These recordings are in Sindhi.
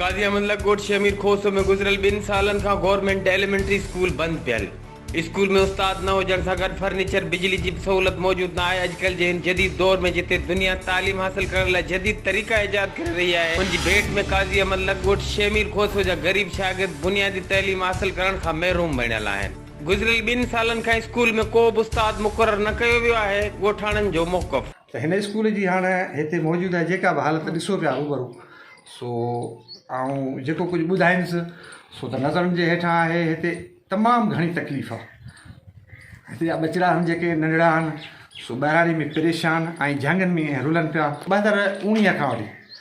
قاضي احمد لڪ ڳوٺ شيخ مير کوسو ۾ گذريل ٻن سالن کان گورنمينٽ ايليمينٽري اسڪول بند پيل. اسڪول ۾ استاد نه هجڻ سان گڏ فرنيچر، بجلي جي به سهولت موجود نه آهي. اڄڪلهه جي هن جديد دور ۾ جتي دنيا تعليم حاصل ڪرڻ لاء جديد طريقا ايجاد ڪري رهي آهي، ان جي ڀيٽ ۾ قاضي احمد لڪ ڳوٺ شيخ مير کوسو جا غريب شاگرد بنيادي تعليم حاصل ڪرڻ کان محروم بڻيل آهن. گذريل ٻن سالن کان اسڪول ۾ ڪو به استاد مقرر نه ڪيو ويو آهي، ڳوٺاڻن جو موقف. ته هن اسڪول جي هاڻ هتي موجوده جيڪا به حالت ڏسو پيا روبرو سو آئون جيڪو ڪجهه ٻڌائيندس سو ته نظرن جي هيٺان آهي هتي تمام گهڻي تڪليف آ هتي جا ٻچڙا هن جيڪي ننڍڙا هن سو ٻهراڙي ۾ پريشان ۽ جهنگن ۾ ائين رلن پيا ٻه هزار اوڻيهه کان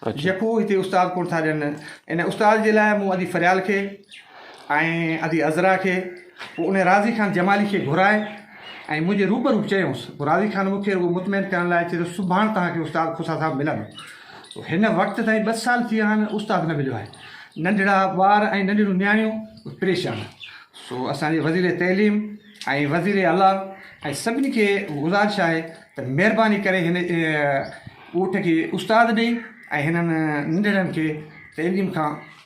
وٺي جيڪو هتي استاد ڪونه ٿا ڏين ان استاد جي لاء مون اڄ فريال کي ۽ ادي عذرا کي، پوء انهيء راضي خان جمالي کي گهرائي ۽ منهنجي روبرو چيائونس. پوء راضي خان مون کي رڳو مطمئن ڪرڻ لاء چيو، سڀاڻ توهان کي استاد کوسا صاحب ملندو. هن وقت تائين ٻه سال ٿي ويا آهن، استاد نه مليو آهي. ننڍڙا ٻار ۽ ننڍڙيون نياڻيون به پريشان. سو اسان جي وزير تعليم ۽ وزير اعليٰ ۽ سڀني کي گذارش آهي ته مهرباني ڪري هن ڳوٺ کي استاد ڏئي ۽ هنن ننڍڙن کي تعليم کان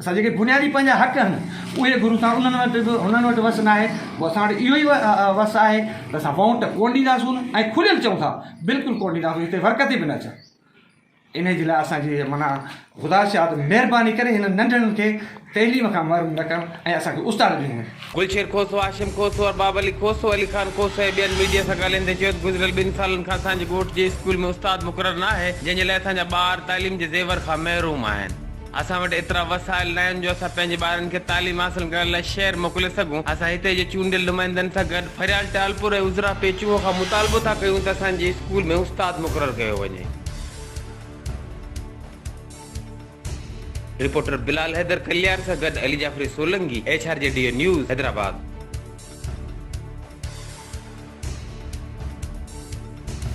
اسان جيڪي بنيادي پنهنجا حق آهن اهي گهرون ٿا انهن وٽ به هنن وٽ وس ناهي پوء اسان وٽ اهو ئي وس آهي ته اسان ووٽ ڪونه ڏينداسون ۽ کليل چئون ٿا بلڪل ڪونه ڏينداسون هتي ورڪتي به نه اچن انهي جي لاء اسان جي معنيٰ خدا شاد مهرباني ڪري هنن ننڍڙن کي تعليم کان محروم نه ڪن ۽ اسان کي استاد ڏنو وڃي. گلشير کوسو، هاشم کوسو، ارباب علي کوسو، علي خان کوسو ۽ ٻين ميڊيا سان ڳالهائيندي چيو ته گذريل ٻن سالن کان اسان جي ڳوٺ جي اسڪول ۾ استاد مقرر ناهي جنهن جي لاء اسان جا ٻار تعليم جي زيور کان محروم آهن. اسان وٽ ايترا وسائل ناهن جو اسان پنهنجي ٻارن کي تعليم حاصل ڪرائڻ لاء شهر موڪلي سگهون، اسان هتي جي چونڊيل نمائندن سان گڏ ڦريال ٽالپور ۽ عذرا پيچوهو کان مطالبو ٿا ڪيون ته اسان جي اسڪول ۾ استاد مقرر ڪيو وڃي. رپورٽر بلال حيدر ڪليار سان گڏ علي جعفري سولنگي، ايڇ آر جي ڊي اي نيوز، حيدرآباد.